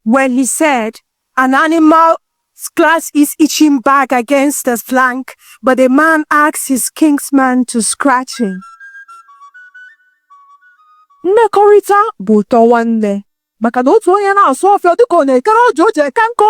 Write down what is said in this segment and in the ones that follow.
when he said, An animal scratch his itching back against his flank, but the man asks his kinsman to scratch him. mmekọrịta bụ ụtọ nwanne maka na otu onye na-asụ ọfịa ọ dịka ọ na-ekere ọjọ o ji eke nkụ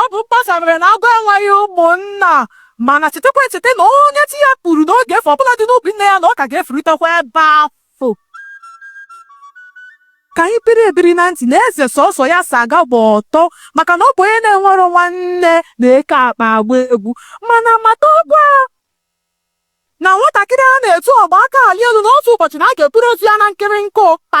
Ọ bụ mkpasa mere na agụ enweghị ụmụnna. Mana chetakwa echeta na onye chi ya kwuru na ọ ga-efu ọbụladị n'ubi nne ya na ọ ka ga-efuritekwa ebe afụ. Ka anyị biri ebiri na ntị na eze sọsọ ya si aga gba ọtọ maka na ọ bụ onye na-enwero nwanne na-eke akpa agba egwu. Mana matakwa na nwatakịrị a na-etu ọgba aka alị elu na otu ụbọchị na a ga-eburu ozu ya na nkịrịka ụkpa.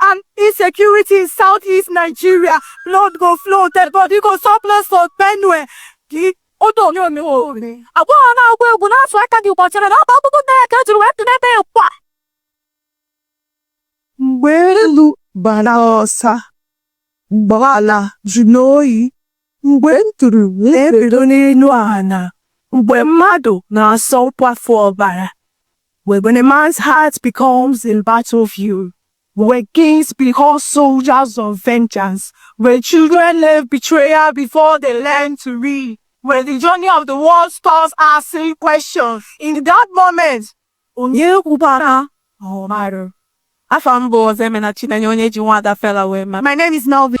and insecurity in southeast Nigeria blood go flow dead body go surplus for Benue gị otu onye omewo agbọghọ na-agba egwu na-asụ aka gị gbachara na ọba akwụkwọ nne ya ka ejiri wee tụnete ya kwa mgbe elu bụ ala ọsa mgbe ala jụrụ oyi mgbe nduru na-ebedo n'elu ala, mgbe mmadụ na-asọ nkwafu ọbara, when a man's heart becomes a battlefield, where kings become soldiers of vengeance, where children learn betrayal before they learn to read, when the journey of the world starts asking questions. In that moment, Onye kwubara na ọ marọ? Afa m bụ Ozemena Chinenye onye e ji Nwaada Fela wee ma. My name is Melvin.